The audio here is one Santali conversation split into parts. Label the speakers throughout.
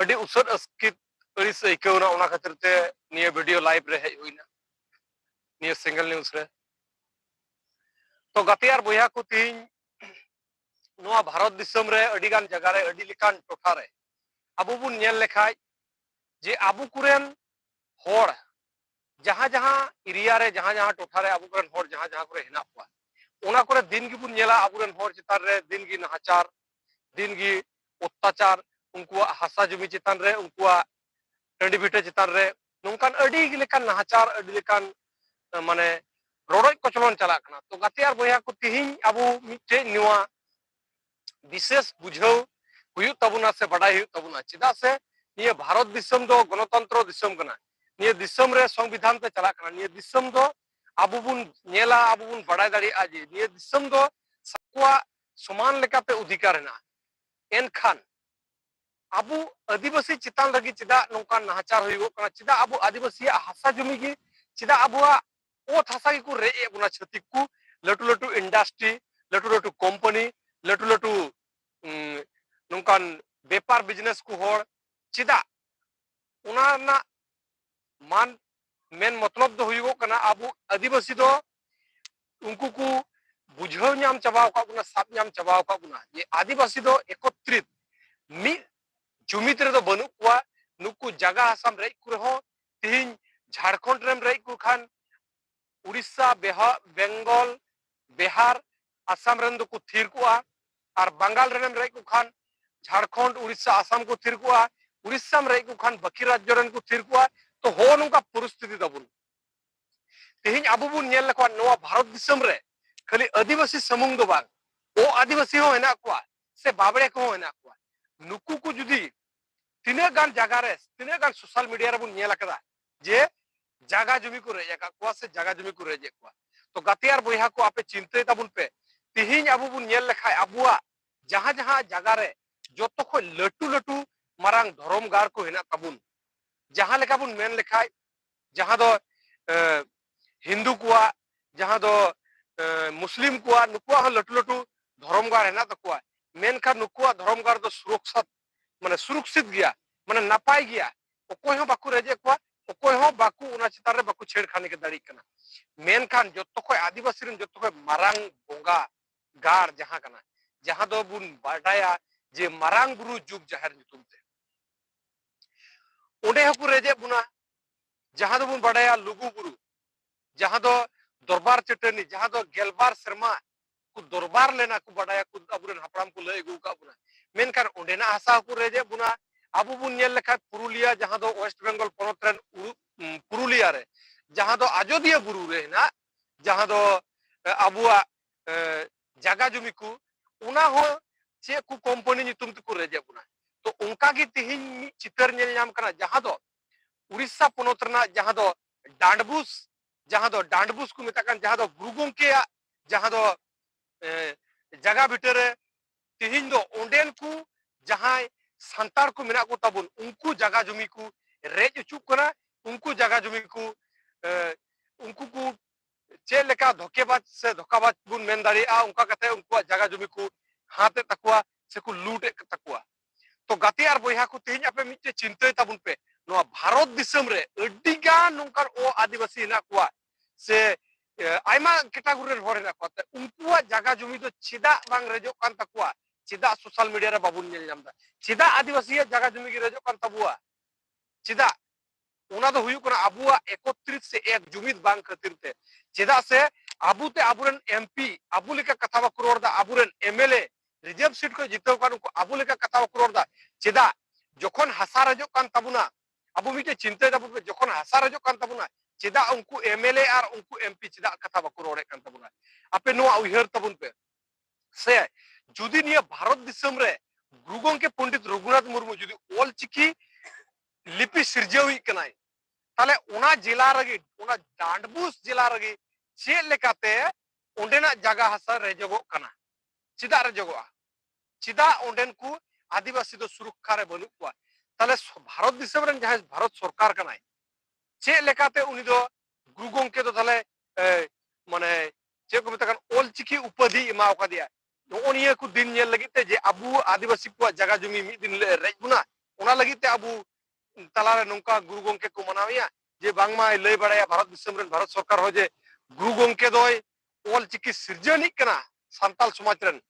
Speaker 1: ᱟᱹᱰᱤ ᱩᱥᱟᱹᱫ ᱟᱥᱠᱤᱛ ᱟᱹᱲᱤᱥ ᱟᱹᱭᱠᱟᱹᱣᱱᱟ ᱚᱱᱟ ᱠᱷᱟᱹᱛᱤᱨ ᱛᱮ ᱱᱤᱭᱟᱹ ᱵᱷᱤᱰᱤᱭᱳ ᱞᱟᱭᱤᱵᱷ ᱨᱮ ᱦᱮᱡ ᱦᱩᱭᱱᱟ ᱱᱤᱭᱟᱹ ᱥᱤᱝᱜᱮᱞ ᱱᱤᱭᱩᱡᱽ ᱨᱮ ᱛᱚ ᱜᱟᱛᱮ ᱟᱨ ᱵᱚᱭᱦᱟ ᱠᱚ ᱛᱤᱦᱤᱧ ᱱᱚᱣᱟ ᱵᱷᱟᱨᱚᱛ ᱫᱤᱥᱚᱢ ᱨᱮ ᱟᱹᱰᱤ ᱜᱟᱱ ᱡᱟᱭᱜᱟ ᱨᱮ ᱟᱹᱰᱤ ᱞᱮᱠᱟᱱ ᱴᱚᱴᱷᱟ ᱨᱮ ᱟᱵᱚ ᱵᱚᱱ ᱧᱮᱞ ᱞᱮᱠᱷᱟᱡ ᱡᱮ ᱟᱵᱚ ᱠᱚᱨᱮᱱ ᱦᱚᱲ ᱡᱟᱦᱟᱸ ᱡᱟᱦᱟᱸ ᱮᱨᱤᱭᱟ ᱨᱮ ᱡᱟᱦᱟᱸ ᱡᱟᱦᱟᱸ ᱴᱚᱴᱷᱟ ᱨᱮ ᱟᱵᱚ ᱠᱚᱨᱮᱱ ᱦᱚᱲ ᱡᱟᱦᱟᱸ ᱡᱟᱦᱟᱸ ᱠᱚᱨᱮ ᱦᱮᱱᱟᱜ ᱠᱚᱣᱟ ᱚᱱᱟ ᱠᱚᱨᱮ ᱫᱤᱱ ᱜᱮᱵᱚᱱ ᱧᱮᱞᱟ ᱟᱵᱚᱨᱮᱱ ᱦᱚᱲ ᱪᱮᱛᱟᱱ ᱨᱮ ᱫᱤᱱ ᱜᱮ ᱱᱟᱦᱟᱪᱟᱨ ᱫᱤᱱ ᱜᱮ ᱚᱛᱛᱟᱪᱟᱨ ᱩᱱᱠᱩᱣᱟᱜ ᱦᱟᱥᱟ ᱡᱩᱢᱤ ᱪᱮᱛᱟᱱ ᱨᱮ ᱩᱱᱠᱩᱣᱟᱜ ᱴᱟᱺᱰᱤ ᱵᱷᱤᱴᱟᱹ ᱪᱮᱛᱟᱱ ᱨᱮ ᱱᱚᱝᱠᱟᱱ ᱟᱹᱰᱤ ᱞᱮᱠᱟᱱ ᱱᱟᱦᱟᱪᱟᱨ ᱟᱹᱰᱤ ᱞᱮᱠᱟᱱ ᱢᱟᱱᱮ ᱨᱚᱰᱚᱡ ᱠᱚᱪᱞᱚᱱ ᱪᱟᱞᱟᱜ ᱠᱟᱱᱟ ᱛᱚ ᱜᱟᱛᱮ ᱟᱨ ᱵᱚᱭᱦᱟ ᱠᱚ ᱛᱤᱦᱤᱧ ᱟᱵᱚ ᱢᱤᱫᱴᱮᱡ ᱱᱚᱣᱟ ᱵᱤᱥᱮᱥ ᱵᱩᱡᱷᱟᱹᱣ ᱦᱩᱭᱩᱜ ᱛᱟᱵᱚᱱᱟ ᱥᱮ ᱵᱟᱰᱟᱭ ᱦᱩᱭᱩᱜ ᱛᱟᱵᱚᱱᱟ ᱪᱮᱫᱟᱜ ᱥᱮ ᱱᱤᱭᱟᱹ ᱵᱷᱟᱨᱚᱛ ᱫᱤᱥᱚᱢ ᱫᱚ ᱜᱚᱱᱚᱛᱚᱱᱛᱨᱚ ᱫᱤᱥᱚᱢ ᱠᱟᱱᱟ ᱱᱤᱭᱟᱹ ᱫᱤᱥᱚᱢ ᱨᱮ ᱥᱚᱝᱵᱤᱫᱷᱟᱱ ᱛᱮ ᱪᱟᱞᱟᱜ ᱠᱟᱱᱟ ᱱᱤᱭᱟᱹ ᱫᱤᱥᱚᱢ ᱫᱚ ᱟᱵᱚ ᱵᱚᱱ ᱧᱮᱞᱟ ᱟᱵᱚ ᱵᱚᱱ ᱵᱟᱰᱟᱭ ᱫᱟᱲᱮᱭᱟᱜᱼᱟ ᱡᱮ ᱱᱤᱭᱟᱹ ᱫᱤᱥᱚᱢ ᱫᱚ ᱥᱟᱠᱚᱣᱟᱜ ᱥᱚᱢᱟᱱ ᱞᱮᱠᱟᱛᱮ ᱚᱫᱷᱤᱠᱟᱨ ᱦᱮᱱᱟᱜᱼᱟ ᱮᱱᱠᱷᱟᱱ ᱟᱵᱚ ᱟᱹᱫᱤᱵᱟᱹᱥᱤ ᱪᱮᱛᱟᱱ ᱨᱮᱜᱮ ᱪᱮᱫᱟᱜ ᱱᱚᱝᱠᱟᱱ ᱱᱟᱦᱟᱪᱟᱨ ᱦᱩᱭᱩᱜᱚᱜ ᱠᱟᱱᱟ ᱪᱮᱫᱟᱜ ᱟᱵᱚ ᱟᱹᱫᱤᱵᱟᱹᱥᱤᱭᱟᱜ ᱦᱟᱥᱟ ᱡᱩᱢᱤ ᱜᱮ ᱪᱮᱫᱟᱜ ᱟᱵᱚᱣᱟᱜ ᱚᱛ ᱦᱟᱥᱟ ᱜᱮᱠᱚ ᱨᱮᱡ ᱮᱫ ᱵᱚᱱᱟ ᱪᱷᱟᱹᱛᱤᱠ ᱠᱚ ᱞᱟᱹᱴᱩ ᱞᱟᱹᱴᱩ ᱤᱱᱰᱟᱥᱴᱨᱤ ᱞᱟᱹᱴᱩ ᱞᱟᱹᱴᱩ ᱠᱳᱢᱯᱟᱱᱤ ᱞᱟᱹᱴᱩ ᱞᱟᱹᱴᱩ ᱱᱚᱝᱠᱟᱱ ᱵᱮᱯᱟᱨ ᱵᱤᱡᱽᱱᱮᱥ ᱠᱚ ᱦᱚᱲ ᱪᱮᱫᱟᱜ ᱚᱱᱟ ᱨᱮᱱᱟᱜ ᱢᱟᱱ ᱢᱮᱱ ᱢᱚᱛᱞᱚᱵ ᱫᱚ ᱦᱩᱭᱩᱜᱚᱜ ᱠᱟᱱᱟ ᱟᱵᱚ ᱟᱹᱫᱤᱵᱟᱹᱥᱤ ᱫᱚ ᱩᱱᱠᱩ ᱠᱚ ᱵᱩᱡᱷᱟᱹᱣ ᱧᱟᱢ ᱪᱟᱵᱟ ᱟᱠᱟᱫ ᱵᱚᱱᱟ ᱥᱟᱵ ᱧᱟᱢ ᱪᱟᱵᱟ ᱟᱠᱟᱫ ᱵᱚᱱᱟ ᱡᱮ ᱟᱹᱫᱤᱵᱟᱹᱥᱤ ᱫᱚ ᱮᱠᱚᱛᱨᱤᱛ ᱢᱤᱫ ᱡᱩᱢᱤᱫ ᱨᱮᱫᱚ ᱵᱟᱹᱱᱩᱜ ᱠᱚᱣᱟ ᱱᱩᱠᱩ ᱡᱟᱜᱟ ᱦᱟᱥᱟᱢ ᱨᱮᱡ ᱠᱚ ᱨᱮᱦᱚᱸ ᱛᱤᱦᱤᱧ ᱡᱷᱟᱲᱠᱷᱚᱸᱰ ᱨᱮᱢ ᱨᱮᱡ ᱠᱚ ᱠᱷᱟᱱ ᱩᱲᱤᱥᱥᱟ ᱵᱮᱦᱟ ᱵᱮᱝᱜᱚᱞ ᱵᱤᱦᱟᱨ ᱟᱥᱟᱢ ᱨᱮᱱ ᱫᱚᱠᱚ ᱛᱷᱤᱨ ᱠᱚᱜᱼᱟ ᱟᱨ ᱵᱟᱝᱜᱟᱞ ᱨᱮᱱᱮᱢ ᱨᱮᱡ ᱠᱚ ᱠᱷᱟᱱ ᱡᱷᱟᱲᱠᱷᱚᱸᱰ ᱩᱲᱤᱥᱥᱟ ᱟᱥᱟᱢ ᱠᱚ ᱛᱷᱤᱨ ᱠᱚᱜᱼᱟ ᱩᱲᱤᱥᱥᱟᱢ ᱨᱮᱡ ᱠᱚ ᱠᱷᱟᱱ ᱵᱟᱹᱠᱤ ᱨᱟᱡᱽᱡᱚ ᱨᱮᱱ ᱠᱚ ᱛᱷᱤᱨ ᱠᱚᱜᱼᱟ ᱛᱚ ᱦᱚᱸ ᱱᱚᱝᱠᱟ ᱯᱚᱨᱤᱥᱛᱷᱤᱛᱤ ᱛᱟᱵᱚᱱ ᱛᱮᱦᱮᱧ ᱟᱵᱚ ᱵᱚᱱ ᱧᱮᱞ ᱞᱮᱠᱷᱟᱱ ᱱᱚᱣᱟ ᱵᱷᱟᱨᱚᱛ ᱫᱤᱥᱚᱢ ᱨᱮ ᱠᱷᱟᱹᱞᱤ ᱟᱹᱫᱤᱵᱟᱹᱥᱤ ᱥᱩᱢᱩᱝ ᱫᱚ ᱵᱟᱝ ᱚ ᱟᱹᱫᱤᱵᱟᱹᱥᱤ ᱦᱚᱸ ᱦᱮᱱᱟᱜ ᱠᱚᱣᱟ ᱥᱮ ᱵᱟᱵᱲᱮ ᱠᱚᱦᱚᱸ ᱦᱮᱱᱟᱜ ᱠᱚᱣᱟ ᱱᱩᱠᱩ ᱠᱚ ᱡᱩᱫᱤ ᱛᱤᱱᱟᱹᱜ ᱜᱟᱱ ᱡᱟᱭᱜᱟ ᱨᱮ ᱛᱤᱱᱟᱹᱜ ᱜᱟᱱ ᱥᱳᱥᱟᱞ ᱢᱤᱰᱤᱭᱟ ᱨᱮᱵᱚᱱ ᱧᱮᱞ ᱟᱠᱟᱫᱟ ᱡᱮ ᱡᱟᱭᱜᱟ ᱡᱩᱢᱤ ᱠᱚ ᱨᱮᱡ ᱟᱠᱟᱫ ᱠᱚᱣᱟ ᱥᱮ ᱡᱟᱭᱜᱟ ᱡᱩᱢᱤ ᱠᱚ ᱨᱮᱡ ᱮᱫ ᱠᱚᱣᱟ ᱛᱚ ᱜᱟᱛᱮ ᱟᱨ ᱵᱚᱭᱦᱟ ᱠᱚ ᱟᱯᱮ ᱪᱤᱱᱛᱟᱹᱭ ᱛᱟᱵᱚᱱ ᱯᱮ ᱛᱮᱦᱮᱧ ᱟᱵᱚ ᱵᱚᱱ ᱧᱮᱞ ᱞᱮᱠᱷᱟᱡ ᱟᱵᱚᱣᱟᱜ ᱡᱟᱦᱟᱸ ᱡᱟᱦᱟᱸ ᱡᱟᱭᱜᱟ ᱨᱮ ᱡᱚᱛᱚ ᱠᱷᱚᱱ ᱞᱟᱹᱴᱩ ᱞᱟᱹᱴᱩ ᱢᱟᱨᱟᱝ ᱫᱷᱚᱨᱚᱢ ᱜᱟᱲ ᱠᱚ ᱦᱮᱱᱟᱜ ᱛᱟᱵᱚᱱ ᱡᱟᱦᱟᱸ ᱞᱮᱠᱟ ᱵᱚᱱ ᱢᱮᱱ ᱞᱮᱠᱷᱟᱡ ᱡᱟᱦᱟᱸ ᱫᱚ ᱦᱤᱱᱫᱩ ᱠᱚᱣᱟᱜ ᱡᱟᱦᱟᱸ ᱫᱚ ᱢᱩᱥᱞᱤᱢ ᱠᱚᱣᱟᱜ ᱱᱩᱠᱩᱣᱟᱜ ᱦᱚᱸ ᱞᱟᱹᱴᱩ ᱞᱟᱹᱴᱩ ᱫᱷᱚᱨᱚᱢ ᱜᱟᱲ ᱦᱮᱱᱟᱜ ᱛᱟᱠᱚᱣᱟ ᱢᱮᱱᱠᱷᱟᱱ ᱱᱩᱠᱩᱣᱟᱜ ᱫᱷᱚᱨᱚᱢ ᱜᱟᱲ ᱫᱚ ᱥᱩᱨᱚᱠᱥᱟ ᱢᱟᱱᱮ ᱥᱩᱨᱚᱠᱥᱤᱛ ᱜᱮᱭᱟ ᱢᱟᱱᱮ ᱱᱟᱯᱟᱭ ᱜᱮᱭᱟ ᱚᱠᱚᱭ ᱦᱚᱸ ᱵᱟᱠᱚ ᱨᱮᱡᱮᱫ ᱠᱚᱣᱟ ᱚᱠᱚᱭ ᱦᱚᱸ ᱵᱟᱠᱚ ᱚᱱᱟ ᱪᱮᱛᱟᱱ ᱨᱮ ᱵᱟᱠᱚ ᱪᱷᱮᱲᱠᱷᱟᱱᱤ ᱜᱮ ᱫᱟᱲᱮᱭᱟᱜ ᱠᱟᱱᱟ ᱢᱮᱱᱠᱷᱟᱱ ᱡᱚᱛᱚ ᱠᱷᱚᱡ ᱟᱹᱫᱤᱵᱟᱹᱥᱤ ᱨᱮᱱ ᱡᱚᱛᱚ ᱠᱷᱚᱡ ᱢᱟᱨᱟᱝ ᱵᱚᱸᱜᱟ ᱜᱟᱲ ᱡᱟᱦᱟᱸ ᱠᱟᱱᱟ ᱡᱟᱦᱟᱸ ᱫᱚ ᱵᱚᱱ ᱵᱟᱰᱟᱭᱟ ᱡᱮ ᱢᱟᱨᱟᱝ ᱵᱩᱨᱩ ᱡᱩᱜᱽ ᱡᱟᱦᱮᱨ ᱧᱩᱛᱩᱢ ᱛᱮ ᱚᱸᱰᱮ ᱦᱚᱸᱠᱚ ᱨᱮᱡᱮᱫ ᱵᱚᱱᱟ ᱡᱟᱦᱟᱸ ᱫᱚᱵᱚᱱ ᱵᱟᱰᱟᱭᱟ ᱞᱩᱜᱩ ᱵᱩᱨᱩ ᱡᱟᱦᱟᱸ ᱫᱚ ᱫᱚᱨᱵᱟᱨ ᱪᱟᱹᱴᱟᱹᱱᱤ ᱡᱟᱦᱟᱸ ᱫᱚ ᱜᱮᱞᱵᱟᱨ ᱥᱮᱨᱢᱟ ᱠᱚ ᱫᱚᱨᱵᱟᱨ ᱞᱮᱱᱟ ᱠᱚ ᱵᱟᱰᱟᱭᱟ ᱠᱚ ᱟᱵᱚᱨᱮᱱ ᱦᱟᱯᱲᱟᱢ ᱠᱚ ᱞᱟᱹᱭ ᱟᱹᱜᱩ ᱟᱠᱟᱫ ᱵᱚᱱᱟ ᱢᱮᱱᱠᱷᱟᱱ ᱚᱸᱰᱮᱱᱟᱜ ᱦᱟᱥᱟ ᱦᱚᱸᱠᱚ ᱨᱮᱡᱮᱫ ᱵᱚᱱᱟ ᱟᱵᱚ ᱵᱚᱱ ᱧᱮᱞ ᱞᱮᱠᱷᱟᱱ ᱯᱩᱨᱩᱞᱤᱭᱟ ᱡᱟᱦᱟᱸ ᱫᱚ ᱳᱭᱮᱥᱴ ᱵᱮᱝᱜᱚᱞ ᱯᱚᱱᱚᱛ ᱨᱮᱱ ᱯᱩᱨᱩᱞᱤᱭᱟ ᱨᱮ ᱡᱟᱦᱟᱸ ᱫᱚ ᱟᱡᱚᱫᱤᱭᱟᱹ ᱵᱩᱨᱩ ᱨᱮ ᱦᱮᱱᱟᱜ ᱡᱟᱦᱟᱸ ᱫᱚ ᱟᱵᱚᱣᱟᱜ ᱡᱟᱜᱟ ᱡᱩᱢᱤ ᱠᱚ ᱚᱱᱟ ᱦᱚᱸ ᱪᱮᱫ ᱠᱚ ᱠᱳᱢᱯᱟᱱᱤ ᱧᱩᱛᱩᱢ ᱛᱮᱠᱚ ᱨᱮᱡᱮᱫ ᱵᱚᱱᱟ ᱛᱚ ᱚᱱᱠᱟ ᱜᱮ ᱛᱮᱦᱮᱧ ᱢᱤᱫ ᱪᱤᱛᱟᱹᱨ ᱧᱮᱞ ᱧᱟᱢ ᱠᱟᱱᱟ ᱡᱟᱦᱟᱸ ᱫᱚ ᱩᱲᱤᱥᱥᱟ ᱯᱚᱱᱚᱛ ᱨᱮᱱᱟᱜ ᱡᱟᱦᱟᱸ ᱫᱚ ᱰᱟᱸᱰᱵᱩᱥ ᱡᱟᱦᱟᱸ ᱫᱚ ᱰᱟᱸᱰᱵᱩᱥ ᱠᱚ ᱢᱮᱛᱟᱜ ᱠᱟᱱ ᱡᱟᱦᱟᱸ ᱫᱚ ᱜᱩᱨᱩ ᱜᱚᱢᱠᱮᱭᱟᱜ ᱡᱟᱦᱟᱸ ᱫᱚ ᱡᱟᱜᱟ ᱵᱷᱤᱴᱟᱹ ᱨᱮ ᱛᱮᱦᱮᱧ ᱫᱚ ᱚᱸᱰᱮᱱ ᱠᱚ ᱡᱟᱦᱟᱸᱭ ᱥᱟᱱᱛᱟᱲ ᱠᱚ ᱢᱮᱱᱟᱜ ᱠᱚ ᱛᱟᱵᱚᱱ ᱩᱱᱠᱩ ᱡᱟᱜᱟ ᱡᱩᱢᱤ ᱠᱚ ᱨᱮᱡ ᱚᱪᱩᱜ ᱠᱟᱱᱟ ᱩᱱᱠᱩ ᱡᱟᱜᱟ ᱡᱩᱢᱤ ᱠᱚ ᱩᱱᱠᱩ ᱠᱚ ᱪᱮᱫ ᱞᱮᱠᱟ ᱫᱷᱚᱠᱮᱵᱟᱡᱽ ᱥᱮ ᱫᱷᱚᱠᱟᱵᱟᱡᱽ ᱵᱚᱱ ᱢᱮᱱ ᱫᱟᱲᱮᱭᱟᱜᱼᱟ ᱚᱱᱠᱟ ᱠᱟᱛᱮ ᱩᱱᱠᱩᱣᱟᱜ ᱡᱟᱭᱜᱟ ᱡᱩᱢᱤ ᱠᱚ ᱦᱟᱛᱮᱫ ᱛᱟᱠᱚᱣᱟ ᱥᱮ ᱠᱚ ᱞᱩᱴᱮᱫ ᱛᱟᱠᱚᱣᱟ ᱛᱚ ᱜᱟᱛᱮ ᱟᱨ ᱵᱚᱭᱦᱟ ᱠᱚ ᱛᱮᱦᱮᱧ ᱟᱯᱮ ᱢᱤᱫᱴᱮᱡ ᱪᱤᱱᱛᱟᱹᱭ ᱛᱟᱵᱚᱱ ᱯᱮ ᱱᱚᱣᱟ ᱵᱷᱟᱨᱚᱛ ᱫᱤᱥᱚᱢ ᱨᱮ ᱟᱹᱰᱤ ᱜᱟᱱ ᱱᱚᱝᱠᱟᱱ ᱚ ᱟᱹᱫᱤᱵᱟᱹᱥᱤ ᱦᱮᱱᱟᱜ ᱠᱚᱣᱟ ᱥᱮ ᱟᱭᱢᱟ ᱠᱮᱴᱟᱜᱚᱨᱤ ᱨᱮᱱ ᱦᱚᱲ ᱦᱮᱱᱟᱜ ᱠᱚᱣᱟ ᱛᱮ ᱩᱱᱠᱩᱣᱟᱜ ᱡᱟᱭᱜᱟ ᱡᱩᱢᱤ ᱫᱚ ᱪᱮᱫᱟᱜ ᱵᱟᱝ ᱨᱮᱡᱚᱜ ᱠᱟᱱ ᱛᱟᱠᱚᱣᱟ ᱪᱮᱫᱟᱜ ᱥᱳᱥᱟᱞ ᱢᱤᱰᱤᱭᱟ ᱨᱮ ᱵᱟᱵᱚᱱ ᱧᱮᱞ ᱧᱟᱢ ᱮᱫᱟ ᱪᱮᱫᱟᱜ ᱟᱹᱫᱤᱵᱟᱹᱥᱤᱭᱟᱜ ᱡᱟᱭᱜᱟ ᱡᱩᱢᱤ ᱜᱮ ᱨᱮᱡᱚᱜ ᱠᱟᱱ ᱛᱟᱵᱚᱣᱟ ᱪᱮᱫᱟᱜ ᱚᱱᱟ ᱫᱚ ᱦᱩᱭᱩᱜ ᱠᱟᱱᱟ ᱟᱵᱚᱣᱟᱜ ᱮᱠᱚᱛᱨᱤᱛ ᱥᱮ ᱮᱠ ᱡᱩᱢᱤᱫ ᱵᱟᱝ ᱠᱷᱟᱹᱛᱤᱨ ᱛᱮ ᱪᱮᱫᱟᱜ ᱥᱮ ᱟᱵᱚ ᱛᱮ ᱟᱵᱚᱨᱮᱱ ᱮᱢᱯᱤ ᱟᱵᱚ ᱞᱮᱠᱟ ᱠᱟᱛᱷᱟ ᱵᱟᱠᱚ ᱨᱚᱲ ᱮᱫᱟ ᱟᱵᱚᱨᱮᱱ ᱮᱢᱮᱞᱮ ᱨᱤᱡᱟᱨᱵᱷ ᱥᱤᱴ ᱠᱷᱚᱱ ᱡᱤᱛᱟᱹᱣ ᱠᱟᱱ ᱩᱱᱠᱩ ᱟᱵᱚ ᱞᱮᱠᱟ ᱠᱟᱛᱷᱟ ᱵᱟᱠᱚ ᱨᱚᱲ ᱮᱫᱟ ᱪᱮᱫᱟᱜ ᱡᱚᱠᱷᱚᱱ ᱦᱟᱥᱟ ᱨᱟᱡᱚᱜ ᱠᱟᱱ ᱛᱟᱵᱚᱱᱟ ᱟᱵᱚ ᱢᱤᱫᱴᱮᱱ ᱪᱤᱱᱛᱟᱹᱭ ᱫᱟᱵᱚᱱ ᱡᱚᱠᱷᱚᱱ ᱦᱟᱥᱟ ᱨᱟᱡᱚᱜ ᱠᱟᱱ ᱛᱟᱵᱚᱱᱟ ᱪᱮᱫᱟᱜ ᱩᱱᱠᱩ ᱮᱢᱮᱞᱮ ᱟᱨ ᱩᱱᱠᱩ ᱮᱢᱯᱤ ᱪᱮᱫᱟᱜ ᱠᱟᱛᱷᱟ ᱵᱟᱠᱚ ᱨᱚᱲᱮᱫ ᱠᱟᱱ ᱛᱟᱵᱚᱱᱟ ᱟᱯᱮ ᱱᱚᱣᱟ ᱩᱭᱦᱟᱹᱨ ᱛᱟᱵᱚᱱ ᱯᱮ ᱥᱮ ᱡᱩᱫᱤ ᱱᱤᱭᱟᱹ ᱵᱷᱟᱨᱚᱛ ᱫᱤᱥᱚᱢ ᱨᱮ ᱜᱩᱨᱩ ᱜᱚᱝᱠᱮ ᱯᱚᱱᱰᱤᱛ ᱨᱚᱜᱷᱩᱱᱟᱛᱷ ᱢᱩᱨᱢᱩ ᱡᱩᱫᱤ ᱚᱞ ᱪᱤᱠᱤ ᱞᱤᱯᱤ ᱥᱤᱨᱡᱟᱹᱣᱤᱡ ᱠᱟᱱᱟᱭ ᱛᱟᱦᱞᱮ ᱚᱱᱟ ᱡᱮᱞᱟ ᱨᱮᱜᱮ ᱚᱱᱟ ᱰᱟᱸᱰᱵᱩᱥ ᱡᱮᱞᱟ ᱨᱮᱜᱮ ᱪᱮᱫ ᱞᱮᱠᱟᱛᱮ ᱚᱸᱰᱮᱱᱟᱜ ᱡᱟᱭᱜᱟ ᱦᱟᱥᱟ ᱨᱮᱡᱚᱜᱚᱜ ᱠᱟᱱᱟ ᱪᱮᱫᱟᱜ ᱨᱮᱡᱚᱜᱚᱜᱼᱟ ᱪᱮᱫᱟᱜ ᱚᱸᱰᱮᱱ ᱠᱚ ᱟᱹᱫᱤᱵᱟᱹᱥᱤ ᱫᱚ ᱥᱩᱨᱚᱠᱠᱷᱟ ᱨᱮ ᱵᱟᱹᱱᱩᱜ ᱠᱚᱣᱟ ᱛᱟᱦᱞᱮ ᱵᱷᱟᱨᱚᱛ ᱫᱤᱥᱚᱢ ᱨᱮᱱ ᱡᱟᱦᱟᱸᱭ ᱵᱷᱟᱨᱚᱛ ᱥᱚᱨᱠᱟᱨ ᱠᱟᱱᱟᱭ ᱪᱮᱫ ᱞᱮᱠᱟᱛᱮ ᱩᱱᱤ ᱫᱚ ᱜᱩᱨᱩ ᱜᱚᱝᱠᱮ ᱫᱚ ᱛᱟᱦᱞᱮ ᱢᱟᱱᱮ ᱪᱮᱫ ᱠᱚ ᱢᱮᱛᱟᱜ ᱠᱟᱱ ᱚᱞᱪᱤᱠᱤ ᱩᱯᱟᱹᱫᱷᱤ ᱮᱢᱟᱣ ᱠᱟᱫᱮᱭᱟ ᱱᱚᱜᱼᱚ ᱱᱤᱭᱟᱹ ᱠᱚ ᱫᱤᱱ ᱧᱮᱞ ᱞᱟᱹᱜᱤᱫ ᱛᱮ ᱡᱮ ᱟᱵᱚ ᱟᱹᱫᱤᱵᱟᱹᱥᱤ ᱠᱚᱣᱟᱜ ᱡᱟᱭᱜᱟ ᱡᱚᱢᱤ ᱢᱤᱫ ᱫᱤᱱ ᱦᱤᱞᱳᱜ ᱨᱮᱡ ᱵᱚᱱᱟ ᱚᱱᱟ ᱞᱟᱹᱜᱤᱫ ᱛᱮ ᱟᱵᱚ ᱛᱟᱞᱟᱨᱮ ᱱᱚᱝᱠᱟ ᱜᱩᱨᱩ ᱜᱚᱝᱠᱮ ᱠᱚ ᱢᱟᱱᱟᱣᱮᱭᱟ ᱡᱮ ᱵᱟᱝᱢᱟᱭ ᱞᱟᱹᱭ ᱵᱟᱲᱟᱭᱟ ᱵᱷᱟᱨᱚᱛ ᱫᱤᱥᱚᱢ ᱨᱮᱱ ᱵᱷᱟᱨᱚᱛ ᱥᱚᱨᱠᱟᱨ ᱦᱚᱸ ᱡᱮ ᱜᱩᱨᱩ ᱜᱚᱝᱠᱮ ᱫᱚᱭ ᱚᱞ ᱪᱤᱠᱤ ᱥᱤᱨᱡᱟᱹᱱᱤᱡ ᱠᱟᱱᱟ ᱥᱟᱱᱛᱟᱞ ᱥᱚᱢᱟᱡᱽ ᱨᱮᱱ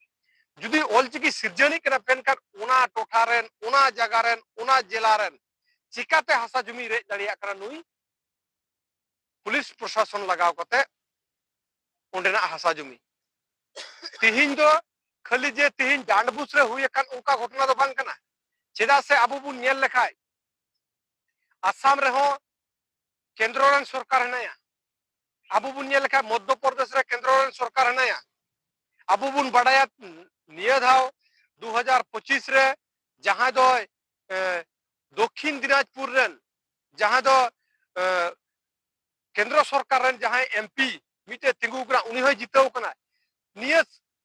Speaker 1: ᱡᱩᱫᱤ ᱚᱞ ᱪᱤᱠᱤ ᱥᱤᱨᱡᱟᱹᱱᱤᱡ ᱠᱟᱱᱟ ᱯᱮᱱᱠᱷᱟᱱ ᱚᱱᱟ ᱴᱚᱴᱷᱟ ᱨᱮᱱ ᱚᱱᱟ ᱡᱟᱭᱜᱟ ᱨᱮᱱ ᱚᱱᱟ ᱡᱮᱞᱟ ᱨᱮᱱ ᱪᱤᱠᱟᱛᱮ ᱦᱟᱥᱟ ᱡᱚᱢᱤ ᱨᱮᱡ ᱫᱟᱲᱮᱭᱟᱜ ᱠᱟᱱᱟ ᱱᱩᱭ ᱯᱩᱞᱤᱥ ᱯᱨᱚᱥᱟᱥᱚᱱ ᱞᱟᱜᱟᱣ ᱠᱟᱛᱮ ᱚᱸᱰᱮᱱᱟᱜ ᱦᱟᱥᱟ ᱡᱚᱢᱤ ᱛᱤᱦᱤᱧ ᱫᱚ ᱠᱷᱟᱹᱞᱤ ᱡᱮ ᱛᱤᱦᱤᱧ ᱰᱟᱸᱰᱵᱩᱥ ᱨᱮ ᱦᱩᱭ ᱟᱠᱟᱱ ᱚᱱᱠᱟ ᱜᱷᱚᱴᱚᱱᱟ ᱫᱚ ᱵᱟᱝ ᱠᱟᱱᱟ ᱪᱮᱫᱟᱜ ᱥᱮ ᱟᱵᱚ ᱵᱚᱱ ᱧᱮᱞ ᱞᱮᱠᱷᱟᱡ ᱟᱥᱟᱢ ᱨᱮᱦᱚᱸ ᱠᱮᱱᱫᱨᱚ ᱨᱮᱱ ᱥᱚᱨᱠᱟᱨ ᱦᱮᱱᱟᱭᱟ ᱟᱵᱚ ᱵᱚᱱ ᱧᱮᱞ ᱞᱮᱠᱷᱟᱡ ᱢᱚᱫᱽᱫᱷᱚ ᱯᱨᱚᱫᱮᱥ ᱨᱮ ᱠᱮᱱᱫᱨᱚ ᱨᱮᱱ ᱥᱚᱨᱠᱟᱨ ᱦᱮᱱᱟᱭᱟ ᱟᱵᱚ ᱵᱚᱱ ᱵᱟᱰᱟᱭᱟ ᱱᱤᱭᱟᱹ ᱫᱷᱟᱣ 2025 ᱨᱮ ᱡᱟᱦᱟᱸᱭ ᱫᱚᱭ ᱫᱚᱠᱷᱤᱱ ᱫᱤᱱᱟᱡᱽᱯᱩᱨ ᱨᱮᱱ ᱡᱟᱦᱟᱸ ᱫᱚ ᱠᱮᱱᱫᱨᱚ ᱥᱚᱨᱠᱟᱨ ᱨᱮᱱ ᱡᱟᱦᱟᱸᱭ ᱮᱢᱯᱤ ᱢᱤᱫᱴᱮᱡ ᱛᱤᱸᱜᱩ ᱠᱟᱱᱟ ᱩᱱᱤ ᱦᱚᱸᱭ ᱡᱤᱛᱟᱹᱣ ᱠᱟᱱᱟ ᱱᱤᱭᱟᱹ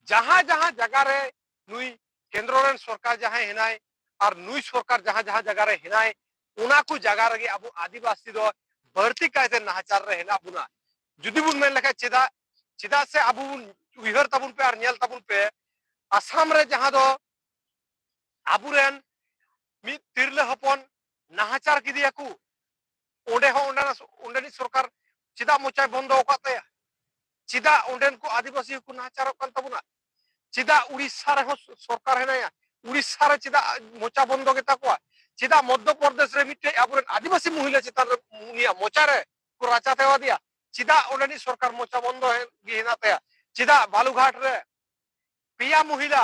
Speaker 1: ᱡᱟᱦᱟᱸ ᱡᱟᱦᱟᱸ ᱡᱟᱭᱜᱟ ᱨᱮ ᱱᱩᱭ ᱠᱮᱱᱫᱨᱚ ᱨᱮᱱ ᱥᱚᱨᱠᱟᱨ ᱡᱟᱦᱟᱸᱭ ᱦᱮᱱᱟᱭ ᱟᱨ ᱱᱩᱭ ᱥᱚᱨᱠᱟᱨ ᱡᱟᱦᱟᱸ ᱡᱟᱦᱟᱸ ᱡᱟᱭᱜᱟ ᱨᱮ ᱦᱮᱱᱟᱭ ᱚᱱᱟ ᱠᱚ ᱡᱟᱭᱜᱟ ᱨᱮᱜᱮ ᱟᱵᱚ ᱟᱹᱫᱤᱵᱟᱹᱥᱤ ᱫᱚ ᱵᱟᱹᱲᱛᱤ ᱠᱟᱭᱛᱮ ᱱᱟᱦᱟᱪᱟᱨ ᱨᱮ ᱦᱮᱱᱟᱜ ᱵᱚᱱᱟ ᱡᱩᱫᱤ ᱵᱚᱱ ᱢᱮᱱ ᱞᱮᱠᱷᱟᱡ ᱪᱮᱫᱟᱜ ᱪᱮᱫᱟᱜ ᱥᱮ ᱟᱵᱚ ᱵᱚᱱ ᱩᱭᱦᱟᱹᱨ ᱛᱟᱵᱚᱱ ᱯᱮ ᱟᱨ ᱧᱮᱞ ᱛᱟᱵᱚᱱ ᱯᱮ ᱟᱥᱟᱢ ᱨᱮ ᱡᱟᱦᱟᱸ ᱫᱚ ᱟᱵᱚᱨᱮᱱ ᱢᱤᱫ ᱛᱤᱨᱞᱟᱹ ᱦᱚᱯᱚᱱ ᱱᱟᱦᱟᱪᱟᱨ ᱠᱮᱫᱮᱭᱟ ᱠᱚ ᱚᱸᱰᱮ ᱦᱚᱸ ᱚᱸᱰᱮᱱᱟᱜ ᱚᱸᱰᱮᱱᱤᱡ ᱥᱚᱨᱠᱟᱨ ᱪᱮᱫᱟᱜ ᱢᱚᱪᱟᱭ ᱵᱚᱱᱫᱚ ᱟᱠᱟᱫ ᱛᱟᱭᱟ ᱪᱮᱫᱟᱜ ᱚᱸᱰᱮᱱ ᱠᱚ ᱟᱹᱫᱤᱵᱟᱹᱥᱤ ᱦᱚᱸᱠᱚ ᱱᱟᱦᱟᱪᱟᱨᱚᱜ ᱠᱟᱱ ᱛᱟᱵᱚᱱᱟ ᱪᱮᱫᱟᱜ ᱩᱲᱤᱥᱥᱟ ᱨᱮᱦᱚᱸ ᱥᱚᱨᱠᱟᱨ ᱦᱮᱱᱟᱭᱟ ᱩᱲᱤᱥᱥᱟ ᱨᱮ ᱪᱮᱫᱟᱜ ᱢᱚᱪᱟ ᱵᱚᱱᱫᱚ ᱜᱮᱛᱟ ᱠᱚᱣᱟ ᱪᱮᱫᱟᱜ ᱢᱚᱫᱽᱫᱷᱚ ᱯᱨᱚᱫᱮᱥ ᱨᱮ ᱢᱤᱫᱴᱮᱡ ᱟᱵᱚᱨᱮᱱ ᱟᱹᱫᱤᱵᱟᱹᱥᱤ ᱢᱚᱦᱤᱞᱟ ᱪᱮᱛᱟᱱ ᱨᱮ ᱩᱱᱤᱭᱟᱜ ᱢᱚᱪᱟ ᱨᱮ ᱠᱚ ᱨᱟᱪᱟ ᱛᱮᱣᱟᱫᱮᱭᱟ ᱪᱮᱫᱟᱜ ᱚᱸᱰᱮᱱᱤᱡ ᱥᱚᱨᱠᱟᱨ ᱢᱚᱪᱟ ᱵᱚᱱᱫᱚ ᱜᱮ ᱦᱮᱱᱟᱜ ᱛᱟᱭᱟ ᱪᱮᱫᱟᱜ ᱵᱟᱞᱩᱜᱷᱟᱴ ᱨᱮ ᱯᱮᱭᱟ ᱢᱚᱦᱤᱞᱟ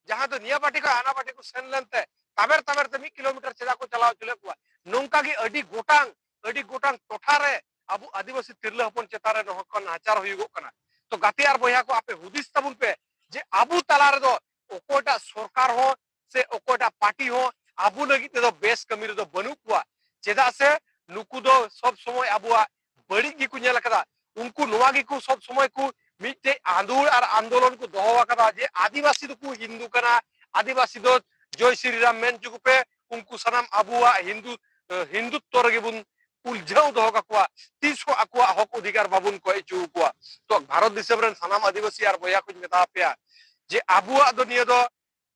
Speaker 1: ᱡᱟᱦᱟᱸ ᱫᱚ ᱱᱤᱭᱟᱹ ᱯᱟᱴᱤ ᱠᱷᱚᱱ ᱦᱟᱱᱟ ᱯᱟᱴᱤ ᱠᱚ ᱥᱮᱱ ᱞᱮᱱᱛᱮ ᱛᱟᱵᱮᱨ ᱛᱟᱵᱮᱨ ᱛᱮ ᱢᱤᱫ ᱠᱤᱞᱳᱢᱤᱴᱟᱨ ᱪᱮᱫᱟᱜ ᱠᱚ ᱪᱟᱞᱟᱣ ᱦᱚᱪᱚ ᱞᱮᱫ ᱠᱚᱣᱟ ᱱᱚᱝᱠᱟ ᱜᱮ ᱟᱹᱰᱤ ᱜᱚᱴᱟᱝ ᱟᱹᱰᱤ ᱜᱚᱴᱟᱝ ᱴᱚᱴᱷᱟ ᱨᱮ ᱟᱵᱚ ᱟᱹᱫᱤᱵᱟᱹᱥᱤ ᱛᱤᱨᱞᱟᱹ ᱦᱚᱯᱚᱱ ᱪᱮᱛᱟᱱ ᱨᱮ ᱱᱚᱝᱠᱟ ᱱᱟᱦᱟᱪᱟᱨ ᱦᱩᱭᱩᱜᱚᱜ ᱠᱟᱱᱟ ᱛᱚ ᱜᱟᱛᱮ ᱟᱨ ᱵᱚᱭᱦᱟ ᱠᱚ ᱟᱯᱮ ᱦᱩᱫᱤᱥ ᱛᱟᱵᱚᱱ ᱯᱮ ᱡᱮ ᱟᱵᱚ ᱛᱟᱞᱟ ᱨᱮᱫᱚ ᱚᱠᱚᱭᱴᱟᱜ ᱥᱚᱨᱠᱟᱨ ᱦᱚᱸ ᱥᱮ ᱚᱠᱚᱭᱴᱟᱜ ᱯᱟᱨᱴᱤ ᱦᱚᱸ ᱟᱵᱚ ᱞᱟᱹᱜᱤᱫ ᱛᱮᱫᱚ ᱵᱮᱥ ᱠᱟᱹᱢᱤ ᱨᱮᱫᱚ ᱵᱟᱹᱱᱩᱜ ᱠᱚᱣᱟ ᱪᱮᱫᱟᱜ ᱥᱮ ᱱᱩᱠᱩ ᱫᱚ ᱥᱚᱵ ᱥᱚᱢᱚᱭ ᱟᱵᱚᱣᱟᱜ ᱵᱟᱹᱲᱤᱡ ᱜᱮᱠᱚ ᱧᱮᱞ ᱟᱠᱟᱫᱟ ᱩᱱᱠᱩ ᱱᱚᱣᱟ ᱜᱮᱠᱚ ᱥᱚᱵ ᱥᱚᱢᱚᱭ ᱠᱚ ᱢᱤᱫᱴᱮᱡ ᱟᱸᱫᱳᱲ ᱟᱨ ᱟᱱᱫᱳᱞᱚᱱ ᱠᱚ ᱫᱚᱦᱚ ᱟᱠᱟᱫᱟ ᱡᱮ ᱟᱹᱫᱤᱵᱟᱹᱥᱤ ᱫᱚᱠᱚ ᱦᱤᱱᱫᱩ ᱠᱟᱱᱟ ᱟᱹᱫᱤᱵᱟᱹᱥᱤ ᱫᱚ ᱡᱚᱭ ᱥᱨᱤ ᱨᱟᱢ ᱢᱮᱱ ᱦᱚᱪᱚ ᱠᱚᱯᱮ ᱩᱱᱠᱩ ᱥᱟᱱᱟᱢ ᱟᱵᱚᱣᱟᱜ ᱦᱤᱱᱫᱩ ᱦᱤᱱᱫᱩᱛᱛᱚ ᱨᱮᱜᱮ ᱵᱚᱱ ᱩᱞᱡᱷᱟᱹᱣ ᱫᱚᱦᱚ ᱠᱟᱠᱚᱣᱟ ᱛᱤᱥ ᱦᱚᱸ ᱟᱠᱚᱣᱟᱜ ᱦᱚᱠ ᱚᱫᱷᱤᱠᱟᱨ ᱵᱟᱵᱚᱱ ᱠᱚᱭ ᱦᱚᱪᱚ ᱟᱠᱚᱣᱟ ᱛᱚ ᱵᱷᱟᱨᱚᱛ ᱫᱤᱥᱚᱢ ᱨᱮᱱ ᱥᱟᱱᱟᱢ ᱟᱹᱫᱤᱵᱟᱹᱥᱤ ᱟᱨ ᱵᱚᱭᱦᱟ ᱠᱚᱧ ᱢᱮᱛᱟ ᱯᱮᱭᱟ ᱡᱮ ᱟᱵᱚᱣᱟᱜ ᱫᱚ ᱱᱤᱭᱟᱹ ᱫᱚ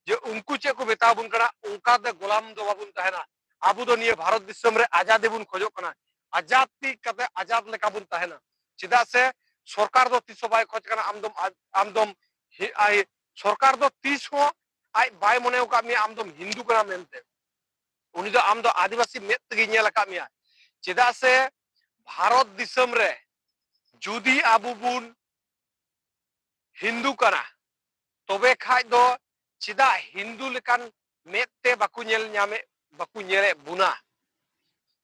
Speaker 1: ᱡᱮ ᱩᱱᱠᱩ ᱪᱮᱫ ᱠᱚ ᱢᱮᱛᱟ ᱵᱚᱱ ᱠᱟᱱᱟ ᱚᱱᱠᱟ ᱫᱚ ᱜᱳᱞᱟᱢ ᱫᱚ ᱵᱟᱵᱚᱱ ᱛᱟᱦᱮᱱᱟ ᱟᱵᱚ ᱫᱚ ᱱᱤᱭᱟᱹ ᱵᱷᱟᱨᱚᱛ ᱫᱤᱥᱚᱢ ᱨᱮ ᱟᱡᱟᱫᱤ ᱵᱚᱱ ᱠᱷᱚᱡᱚᱜ ᱠᱟᱱᱟ ᱟᱡᱟᱫ ᱛᱤ ᱠᱟᱛᱮ ᱟᱡᱟᱫ ᱞᱮᱠᱟ ᱵᱚᱱ ᱛᱟᱦᱮᱱᱟ ᱪᱮᱫᱟᱜ ᱥᱮ ᱥᱚᱨᱠᱟᱨ ᱫᱚ ᱛᱤᱥ ᱦᱚᱸ ᱵᱟᱭ ᱠᱷᱚᱡ ᱠᱟᱱᱟ ᱟᱢ ᱫᱚᱢ ᱟᱢ ᱫᱚᱢ ᱥᱚᱨᱠᱟᱨ ᱫᱚ ᱛᱤᱥ ᱦᱚᱸ ᱟᱡ ᱵᱟᱭ ᱢᱚᱱᱮ ᱟᱠᱟᱫ ᱢᱮᱭᱟ ᱟᱢ ᱫᱚᱢ ᱦᱤᱱᱫᱩ ᱠᱟᱱᱟ ᱢᱮᱱᱛᱮ ᱩᱱᱤ ᱫᱚ ᱟᱢ ᱫᱚ ᱟᱹᱫᱤᱵᱟᱹᱥᱤ ᱢᱮᱫ ᱛᱮᱜᱮ ᱧᱮᱞ ᱟᱠᱟᱫ ᱢᱮᱭᱟ ᱪᱮᱫᱟᱜ ᱥᱮ ᱵᱷᱟᱨᱚᱛ ᱫᱤᱥᱚᱢ ᱨᱮ ᱡᱩᱫᱤ ᱟᱵᱚ ᱵᱚᱱ ᱦᱤᱱᱫᱩ ᱠᱟᱱᱟ ᱛᱚᱵᱮ ᱠᱷᱟᱡ ᱫᱚ ᱪᱮᱫᱟᱜ ᱦᱤᱱᱫᱩ ᱞᱮᱠᱟᱱ ᱢᱮᱫ ᱛᱮ ᱵᱟᱠᱚ ᱧᱮᱞ ᱧᱟᱢᱮᱫ ᱵᱟᱠᱚ ᱧᱮᱞᱮᱫ ᱵᱚᱱᱟ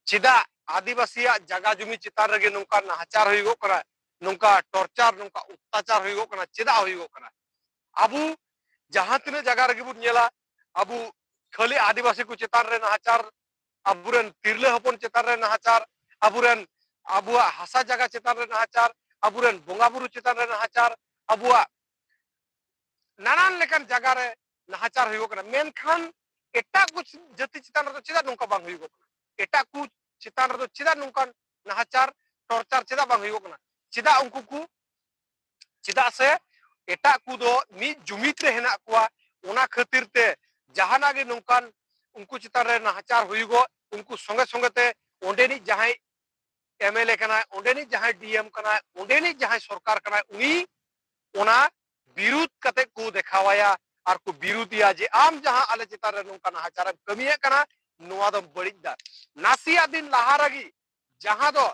Speaker 1: ᱪᱮᱫᱟᱜ ᱟᱹᱫᱤᱵᱟᱹᱥᱤᱭᱟᱜ ᱡᱟᱜᱟ ᱡᱩᱢᱤ ᱪᱮᱛᱟᱱ ᱨᱮᱜᱮ ᱱᱚᱝᱠᱟ ᱱᱟᱦᱟᱪᱟᱨ ᱦᱩᱭᱩᱜᱚᱜ ᱠᱟᱱᱟ ᱱᱚᱝᱠᱟ ᱴᱚᱨᱪᱟᱨ ᱱᱚᱝᱠᱟ ᱚᱛᱛᱟᱪᱟᱨ ᱦᱩᱭᱩᱜᱚᱜ ᱠᱟᱱᱟ ᱪᱮᱫᱟᱜ ᱦᱩᱭᱩᱜᱚᱜ ᱠᱟᱱᱟ ᱟᱵᱚ ᱡᱟᱦᱟᱸ ᱛᱤᱱᱟᱹᱜ ᱡᱟᱭᱜᱟ ᱨᱮᱜᱮ ᱵᱚᱱ ᱧᱮᱞᱟ ᱟᱵᱚ ᱠᱷᱟᱹᱞᱤ ᱟᱹᱫᱤᱵᱟᱹᱥᱤ ᱠᱚ ᱪᱮᱛᱟᱱ ᱨᱮ ᱱᱟᱦᱟᱪᱟᱨ ᱟᱵᱚᱨᱮᱱ ᱛᱤᱨᱞᱟᱹ ᱦᱚᱯᱚᱱ ᱪᱮᱛᱟᱱ ᱨᱮ ᱱᱟᱦᱟᱪᱟᱨ ᱟᱵᱚᱨᱮᱱ ᱟᱵᱚᱣᱟᱜ ᱦᱟᱥᱟ ᱡᱟᱭᱜᱟ ᱪᱮᱛᱟᱱ ᱨᱮ ᱱᱟᱦᱟᱪᱟᱨ ᱟᱵᱚᱨᱮᱱ ᱵᱚᱸᱜᱟ ᱵᱩᱨᱩ ᱪᱮᱛᱟᱱ ᱨᱮ ᱱᱟᱦᱟᱪᱟᱨ ᱟᱵᱚᱣᱟᱜ ᱱᱟᱱᱟᱱ ᱞᱮᱠᱟᱱ ᱡᱟᱭᱜᱟ ᱨᱮ ᱱᱟᱦᱟᱪᱟᱨ ᱦᱩᱭᱩᱜ ᱠᱟᱱᱟ ᱢᱮᱱᱠᱷᱟᱱ ᱮᱴᱟᱜ ᱠᱚ ᱡᱟᱹᱛᱤ ᱪᱮᱛᱟᱱ ᱨᱮᱫᱚ ᱪᱮᱫᱟᱜ ᱱᱚᱝᱠᱟ ᱵᱟᱝ ᱦᱩᱭᱩᱜ ᱠᱟᱱᱟ ᱮᱴᱟᱜ ᱠᱚ ᱪᱮᱛᱟᱱ ᱨᱮᱫᱚ ᱪᱮᱫᱟᱜ ᱱᱚᱝᱠᱟᱱ ᱱᱟᱦᱟᱪᱟᱨ ᱴᱚᱨᱪᱟᱨ ᱪᱮᱫᱟᱜ ᱵᱟᱝ ᱦᱩᱭᱩᱜ ᱠᱟᱱᱟ ᱪᱮᱫᱟᱜ ᱩᱱᱠᱩ ᱠᱚ ᱪᱮᱫᱟᱜ ᱥᱮ ᱮᱴᱟᱜ ᱠᱚᱫᱚ ᱢᱤᱫ ᱡᱩᱢᱤᱫ ᱨᱮ ᱦᱮᱱᱟᱜ ᱠᱚᱣᱟ ᱚᱱᱟ ᱠᱷᱟᱹᱛᱤᱨ ᱛᱮ ᱡᱟᱦᱟᱱᱟᱜ ᱜᱮ ᱱᱚᱝᱠᱟᱱ ᱩᱱᱠᱩ ᱪᱮᱛᱟᱱ ᱨᱮ ᱱᱟᱦᱟᱪᱟᱨ ᱦᱩᱭᱩᱜᱚᱜ ᱩᱱᱠᱩ ᱥᱚᱸᱜᱮ ᱥᱚᱸᱜᱮ ᱛᱮ ᱚᱸᱰᱮᱱᱤᱡ ᱡᱟᱦᱟᱸᱭ ᱮᱢᱮᱞᱮ ᱠᱟᱱᱟᱭ ᱚᱸᱰᱮᱱᱤᱡ ᱡᱟᱦᱟᱸᱭ ᱰᱤᱮᱢ ᱠᱟᱱᱟᱭ ᱚᱸᱰᱮᱱᱤᱡ ᱡᱟᱦᱟᱸᱭ ᱥᱚᱨᱠᱟᱨ ᱠᱟᱱᱟᱭ ᱩᱱᱤ ᱚᱱᱟ ᱵᱤᱨᱩᱫ ᱠᱟᱛᱮ ᱠᱚ ᱫᱮᱠᱷᱟᱣᱟᱭᱟ ᱟᱨ ᱠᱚ ᱵᱤᱨᱩᱫᱤᱭᱟ ᱡᱮ ᱟᱢ ᱡᱟᱦᱟᱸ ᱟᱞᱮ ᱪᱮᱛᱟᱱ ᱨᱮ ᱱᱚᱝᱠᱟ ᱱᱟᱦᱟᱪᱟᱨᱮᱢ ᱠᱟᱹᱢᱤᱭᱮᱫ ᱠᱟᱱᱟ ᱱᱚᱣᱟ ᱫᱚᱢ ᱵᱟᱹᱲᱤᱡ ᱫᱟ ᱱᱟᱥᱮᱭᱟᱜ ᱫᱤᱱ ᱞᱟᱦᱟ ᱨᱮᱜᱮ ᱡᱟᱦᱟᱸ ᱫᱚ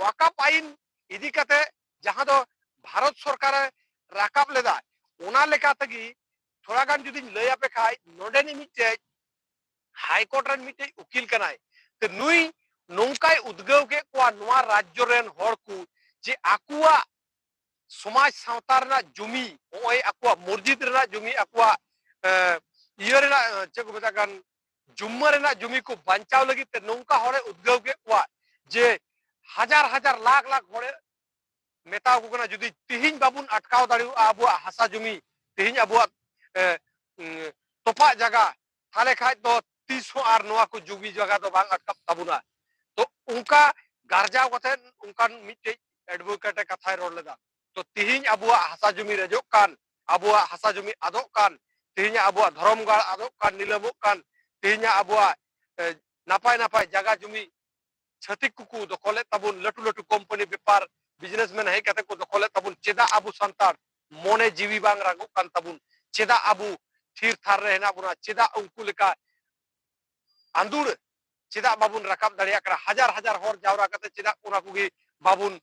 Speaker 1: ᱣᱟᱠᱟᱯ ᱟᱭᱤᱱ ᱤᱫᱤ ᱠᱟᱛᱮ ᱡᱟᱦᱟᱸ ᱫᱚ ᱵᱷᱟᱨᱚᱛ ᱥᱚᱨᱠᱟᱨ ᱨᱟᱠᱟᱵ ᱞᱮᱫᱟ ᱚᱱᱟ ᱞᱮᱠᱟ ᱛᱮᱜᱮ ᱛᱷᱚᱲᱟ ᱜᱟᱱ ᱡᱩᱫᱤᱧ ᱞᱟᱹᱭ ᱟᱯᱮ ᱠᱷᱟᱡ ᱱᱚᱰᱮᱱᱤᱡ ᱢᱤᱫᱴᱮᱡ ᱦᱟᱭᱠᱳᱨᱴ ᱨᱮᱱ ᱢᱤᱫᱴᱮᱡ ᱩᱠᱤᱞ ᱠᱟᱱᱟᱭ ᱛᱮ ᱱᱩᱭ ᱱᱚᱝᱠᱟᱭ ᱩᱫᱽᱜᱟᱹᱣ ᱠᱮᱫ ᱠᱚᱣᱟ ᱱᱚᱣᱟ ᱨᱟᱡᱽᱡᱚ ᱨᱮᱱ ᱦᱚᱲ ᱠᱚ ᱡᱮ ᱟᱠᱚᱣᱟᱜ ᱥᱚᱢᱟᱡᱽ ᱥᱟᱶᱛᱟ ᱨᱮᱱᱟᱜ ᱡᱚᱢᱤ ᱱᱚᱜᱼᱚᱭ ᱟᱠᱚᱣᱟᱜ ᱢᱚᱥᱡᱤᱫ ᱨᱮᱱᱟᱜ ᱡᱚᱢᱤ ᱟᱠᱚᱣᱟᱜ ᱤᱭᱟᱹ ᱨᱮᱱᱟᱜ ᱪᱮᱫ ᱠᱚ ᱢᱮᱛᱟᱜ ᱠᱟᱱ ᱡᱩᱢᱢᱟᱹ ᱨᱮᱱᱟᱜ ᱡᱩᱢᱤ ᱠᱚ ᱵᱟᱧᱪᱟᱣ ᱞᱟᱹᱜᱤᱫ ᱛᱮ ᱱᱚᱝᱠᱟ ᱦᱚᱲᱮ ᱩᱫᱽᱜᱟᱹᱣ ᱠᱮᱫ ᱠᱚᱣᱟ ᱡᱮ ᱦᱟᱡᱟᱨ ᱦᱟᱡᱟᱨ ᱞᱟᱠᱷ ᱞᱟᱠᱷ ᱦᱚᱲᱮ ᱢᱮᱛᱟᱣ ᱠᱚ ᱠᱟᱱᱟ ᱡᱩᱫᱤ ᱛᱤᱦᱤᱧ ᱵᱟᱵᱚᱱ ᱟᱴᱠᱟᱣ ᱫᱟᱲᱮᱭᱟᱜᱼᱟ ᱟᱵᱚᱣᱟᱜ ᱦᱟᱥᱟ ᱡᱩᱢᱤ ᱛᱤᱦᱤᱧ ᱟᱵᱚᱣᱟᱜ ᱛᱚᱯᱟᱜ ᱡᱟᱭᱜᱟ ᱛᱟᱦᱞᱮ ᱠᱷᱟᱡ ᱫᱚ ᱛᱤᱥ ᱦᱚᱸ ᱟᱨ ᱱᱚᱣᱟ ᱠᱚ ᱡᱩᱢᱤ ᱡᱟᱭᱜᱟ ᱫᱚ ᱵᱟᱝ ᱟᱴᱠᱟᱜ ᱛᱟᱵᱚᱱᱟ ᱛᱚ ᱚᱱᱠᱟ ᱜᱟᱨᱡᱟᱣ ᱠᱟᱛᱮ ᱚᱱᱠᱟᱱ ᱢᱤᱫᱴᱮᱡ ᱮᱰᱵᱷᱚᱠᱮᱴ ᱮ ᱠᱟᱛᱷᱟᱭ ᱨᱚᱲ ᱞᱮᱫᱟ ᱛᱚ ᱛᱤᱦᱤᱧ ᱟᱵᱚᱣᱟᱜ ᱦᱟᱥᱟ ᱡᱩᱢᱤ ᱨᱮᱡᱚᱜ ᱠᱟᱱ ᱟᱵᱚᱣᱟᱜ ᱦᱟᱥᱟ ᱡᱩᱢᱤ ᱟᱫᱚᱜ ᱠᱟᱱ ᱛᱤᱦᱤᱧ ᱟᱵᱚᱣᱟᱜ ᱫᱷᱚᱨᱚᱢ ᱜᱟᱲ ᱟᱫᱚᱜ ᱠᱟᱱ ᱱᱤᱞᱟᱹᱢᱚᱜ ᱠᱟᱱ ᱛᱤᱦᱤᱧ ᱟᱵᱚᱣᱟᱜ ᱱᱟᱯᱟᱭ ᱱᱟᱯᱟᱭ ᱡᱟᱭᱜᱟ ᱡᱩᱢᱤ ᱪᱷᱟᱹᱛᱤᱠ ᱠᱚᱠᱚ ᱫᱚᱠᱷᱚᱞᱮᱫ ᱛᱟᱵᱚᱱ ᱞᱟᱹᱴᱩ ᱞᱟᱹᱴᱩ ᱠᱳᱢᱯᱟᱱᱤ ᱵᱮᱯᱟᱨ ᱵᱤᱡᱽᱱᱮᱥᱢᱮᱱ ᱦᱮᱡ ᱠᱟᱛᱮ ᱠᱚ ᱫᱚᱠᱷᱚᱞᱮᱫ ᱛᱟᱵᱚᱱ ᱪᱮᱫᱟᱜ ᱟᱵᱚ ᱥᱟᱱᱛᱟᱲ ᱢᱚᱱᱮ ᱡᱤᱣᱤ ᱵᱟᱝ ᱨᱟᱜᱚᱜ ᱠᱟᱱ ᱛᱟᱵᱚᱱ ᱪᱮᱫᱟᱜ ᱟᱵᱚ ᱛᱷᱤᱨ ᱛᱷᱟᱨ ᱨᱮ ᱦᱮᱱᱟᱜ ᱵᱚᱱᱟ ᱪᱮᱫᱟᱜ ᱩᱱᱠᱩ ᱞᱮᱠᱟ ᱟᱸᱫᱩᱲ ᱪᱮᱫᱟᱜ ᱵᱟᱵᱚᱱ ᱨᱟᱠᱟᱵ ᱫᱟᱲᱮᱭᱟᱜ ᱠᱟᱱᱟ ᱦᱟᱡᱟᱨ ᱦᱟᱡᱟᱨ ᱦᱚᱲ ᱡᱟᱣᱨᱟ ᱠᱟᱛᱮ ᱪᱮᱫᱟᱜ ᱚᱱᱟ ᱠᱚᱜᱮ ᱵᱟᱵᱚᱱ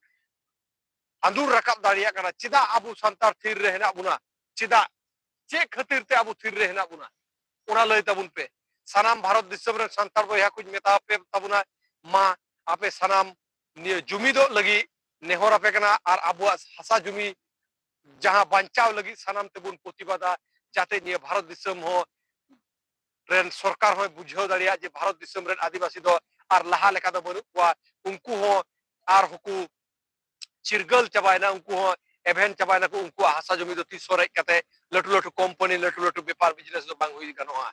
Speaker 1: ᱟᱸᱫᱩᱨ ᱨᱟᱠᱟᱵ ᱫᱟᱲᱮᱭᱟᱜ ᱠᱟᱱᱟ ᱪᱮᱫᱟᱜ ᱟᱵᱚ ᱥᱟᱱᱛᱟᱲ ᱛᱷᱤᱨ ᱨᱮ ᱦᱮᱱᱟᱜ ᱵᱚᱱᱟ ᱪᱮᱫᱟᱜ ᱪᱮᱫ ᱠᱷᱟᱹᱛᱤᱨ ᱛᱮ ᱟᱵᱚ ᱛᱷᱤᱨ ᱨᱮ ᱦᱮᱱᱟᱜ ᱵᱚᱱᱟ ᱚᱱᱟ ᱞᱟᱹᱭ ᱛᱟᱵᱚᱱ ᱯᱮ ᱥᱟᱱᱟᱢ ᱵᱷᱟᱨᱚᱛ ᱫᱤᱥᱚᱢ ᱨᱮ ᱥᱟᱱᱛᱟᱲ ᱵᱚᱭᱦᱟ ᱠᱚᱧ ᱢᱮᱛᱟ ᱯᱮ ᱛᱟᱵᱚᱱᱟ ᱢᱟ ᱟᱯᱮ ᱥᱟᱱᱟᱢ ᱱᱤᱭᱟᱹ ᱡᱩᱢᱤᱫᱚᱜ ᱞᱟᱹᱜᱤᱫ ᱱᱮᱦᱚᱨ ᱟᱯᱮ ᱠᱟᱱᱟ ᱟᱨ ᱟᱵᱚᱣᱟᱜ ᱦᱟᱥᱟ ᱡᱩᱢᱤ ᱡᱟᱦᱟᱸ ᱵᱟᱧᱪᱟᱣ ᱞᱟᱹᱜᱤᱫ ᱥᱟᱱᱟᱢ ᱛᱮᱵᱚᱱ ᱯᱨᱚᱛᱤᱵᱟᱫᱟ ᱡᱟᱛᱮ ᱱᱤᱭᱟᱹ ᱵᱷᱟᱨᱚᱛ ᱫᱤᱥᱚᱢ ᱦᱚᱸ ᱨᱮᱱ ᱥᱚᱨᱠᱟᱨ ᱦᱚᱸᱭ ᱵᱩᱡᱷᱟᱹᱣ ᱫᱟᱲᱮᱭᱟᱜ ᱡᱮ ᱵᱷᱟᱨᱚᱛ ᱫᱤᱥᱚᱢ ᱨᱮᱱ ᱟᱹᱫᱤᱵᱟᱹᱥᱤ ᱫᱚ ᱟᱨ ᱞᱟᱦᱟ ᱞᱮᱠᱟ ᱫᱚ ᱵᱟᱹᱱᱩᱜ ᱠᱚᱣᱟ ᱩᱱᱠᱩ ᱦᱚᱸ ᱟᱨ ᱦᱚᱸᱠᱚ ᱪᱤᱨᱜᱟᱹᱞ ᱪᱟᱵᱟᱭᱮᱱᱟ ᱩᱱᱠᱩ ᱦᱚᱸ ᱮᱵᱷᱮᱱ ᱪᱟᱵᱟᱭᱮᱱᱟ ᱠᱚ ᱩᱱᱠᱩᱣᱟᱜ ᱦᱟᱥᱟ ᱡᱚᱢᱤ ᱫᱚ ᱛᱤᱥ ᱦᱚᱸ ᱨᱮᱡ ᱠᱟᱛᱮ ᱞᱟᱹᱴᱩ ᱞᱟᱹᱴᱩ ᱠᱳᱢᱯᱟᱱᱤ ᱞᱟᱹᱴᱩ ᱞᱟᱹᱴᱩ ᱵᱮᱯᱟᱨ ᱵᱤᱡᱽᱱᱮᱥ ᱫᱚ ᱵᱟᱝ ᱦᱩᱭ ᱜᱟᱱᱚᱜᱼᱟ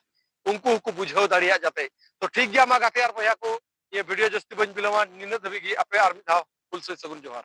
Speaker 1: ᱩᱱᱠᱩ ᱦᱚᱸᱠᱚ ᱵᱩᱡᱷᱟᱹᱣ ᱫᱟᱲᱮᱭᱟᱜ ᱡᱟᱛᱮ ᱛᱚ ᱴᱷᱤᱠ ᱜᱮᱭᱟ ᱢᱟ ᱜᱟᱛᱮ ᱟᱨ ᱵᱚᱭᱦᱟ ᱠᱚ ᱱᱤᱭᱟᱹ ᱵᱷᱤᱰᱤᱭᱳ ᱡᱟᱹᱥᱛᱤ ᱵᱟᱹᱧ ᱵᱤᱞᱚᱢᱟ ᱱᱤᱱᱟᱹᱜ ᱫᱷᱟᱹᱵᱤᱡ ᱜᱮ ᱟᱯᱮ ᱟᱨ ᱢᱤᱫ ᱫᱷᱟᱣ ᱦᱩᱞ ᱥᱟᱹᱭ ᱥᱟᱹᱜᱩᱱ ᱡᱚᱦᱟᱨ